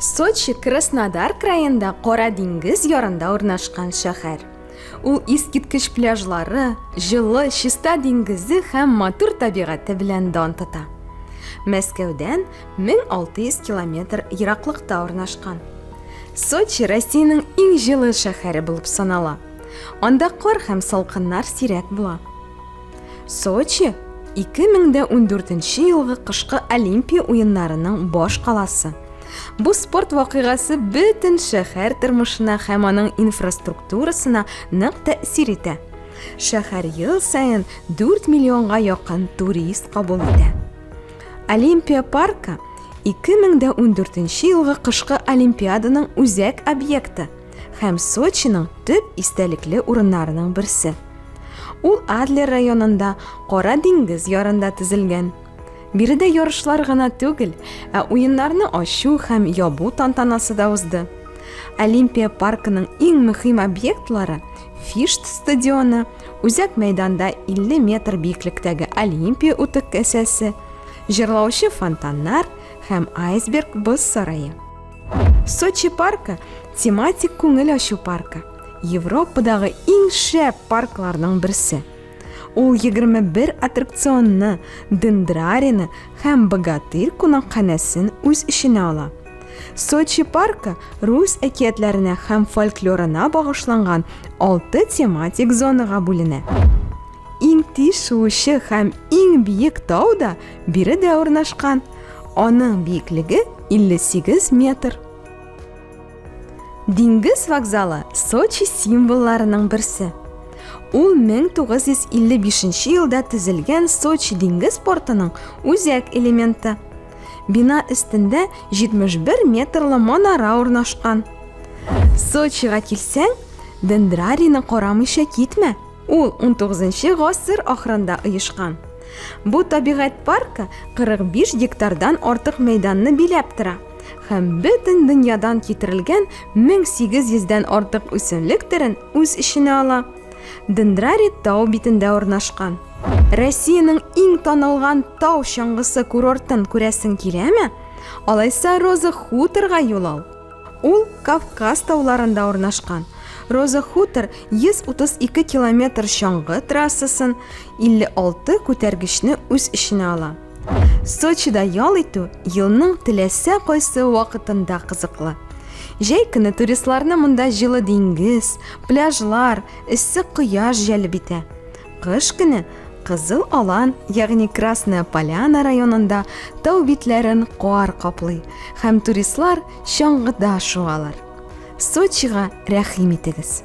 Сочи Краснодар краенда Кара диңгез ярында урнашкан шәһәр. Ул искиткеч пляжлары, җылы, чиста диңгезе һәм матур табигате белән дан тота. Мәскәүдән 1600 километр ераклыкта урнашкан. Сочи Россиянең иң җылы шәһәре булып санала. Анда кар һәм салкыннар сирәк була. Сочи 2014 елгы кышкы Олимпия уеннарының баш каласы. Бу спорт вакыйгасы бөтен шәһәр тормышына һәм аның инфраструктурасына нык тәэсир итә. Шәһәр ел саен 4 миллионга якын турист кабул итә. Олимпия паркы 2014 елгы кышкы Олимпиаданың үзәк объекты һәм Сочиның төп истәлекле урыннарының берсе. Ул Адлер районында Кара диңгез ярында төзелгән. Биредә ярышлар гына түгел, ә уеннарны ачу һәм ябу тантанасы да узды. Олимпия паркының иң мөһим объектлары Фишт стадионы Үзәк мәйданда 50 метр биеклектәге Олимпия утык кәсәсе, җырлаучы фонтаннар һәм айсберг боз сарае. Сочи паркы тематик күңел ачу паркы. Европадагы иң шәп паркларның берсе. Ул 21 аттракционны, дендрарины һәм богатырь кунакханәсен үз эченә ала. Сочи паркы рус әкиятләренә һәм фольклорына багышланган алты тематик зонага бүленә. Иң тиз шуучы һәм иң биек тау да биредә урнашкан. Аның биеклеге 58 метр. Диңгез вокзалы Сочи символларының берсе. Ул 1955 елда төзелгән Сочи диңгез портының үзәк элементы. Бина өстендә 71 метрлы манара урнашкан. Сочига килсәң, дендрарийны карамыйча китмә. Ул 19 гасыр ахырында оешкан. Бу табигать паркы 45 гектардан артык мәйданны биләп тора һәм бөтен дөньядан китерелгән 1800 дән артык үсемлек төрен үз эченә ала. Дендрарий тау битендә урнашкан. Россиянең иң танылган тау чыңгысы курортын күрәсең киләме? Алайса Роза хуторга юл ал. Ул Кавказ тауларында урнашкан. Роза хутор 132 километр чаңгы трассасын, 56 күтәргечне үз эченә ала. Сочида ял итү елның теләсә кайсы вакытында кызыклы. Җәй көне туристларны монда җылы диңгез, пляжлар, эссе кояш җәлеп итә. Кыш көне Кызыл Алан, ягъни Красная Поляна районында тау битләрен кар каплый һәм туристлар чаңгыда шуалар. Сочига рәхим итегез.